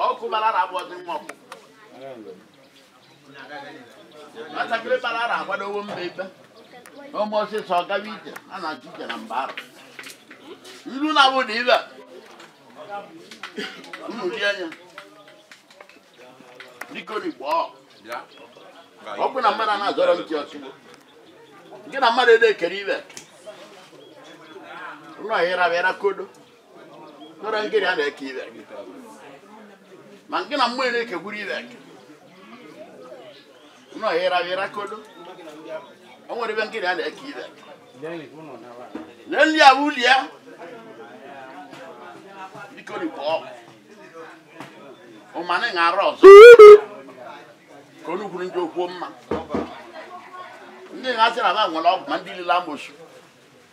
ọkụ bara ara abụọ dị nwa ọkpụkpụ nwatakịrị bara ara agbadowo mba ikpe ụmụ ọsịsọ ọgawa ije a na-achụ ije na mba ara ilu na abụ na ibe unu rie anya biko n'igbo ọ ọ bụ na mmadụ a na-azọrọ ntị ọchị gị na mmadụ ede ekere ibe ụlọ ịra bịara kodo nara ngịrị a na-eke ibe gị ma nke na mmụọ na-ekegburu ibe gị nọ ịra ịra kodo o nwere ebe ngịrị a na-eke ibe gị lee nri ahụ uli ya biko rikwa ọgwụ ụmanị ṅara ọzọ ka onye kwuru ndị okwuo ma ndị na-asị na ha nwere ọgwụ ma ndị lile amosu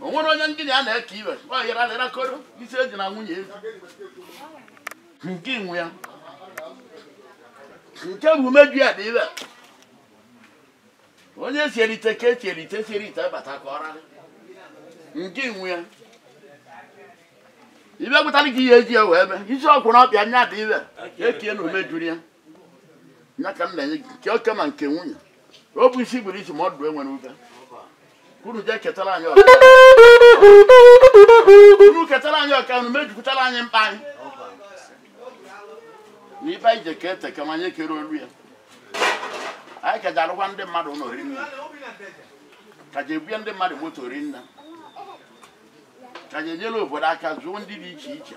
o nwere onye gị na ya na-eke iwe ọ yara lera koro isi eji na nwunye ezi nke inwe ya nke bụ umeju ya dị iwe onye si erite ka esi erite si erite bata ka ọra nke inwe ya ibe gwụtara gị ihe eji ya wee mee isi ọkwụ na ọbịa nya dị iwe ekie na umejuru ya nya ka m na-enye gị nke oke ma nke nwunye ọ bụ isi gburu isi ma ọdụ e nwere ebe unu jee ketara anyị ọka unu ketara anyị ọka unu mejupụtara anyị mkpa anyị na ibe anyị je ka ete ka ma anyị ekere olu ya anyị ka ji arụkwa ndị mmadụ ụlọ ri nna ka ji ebunye ndị mmadụ moto ri nna ka ji enyere obodo aka zụọ ndị dị iche iche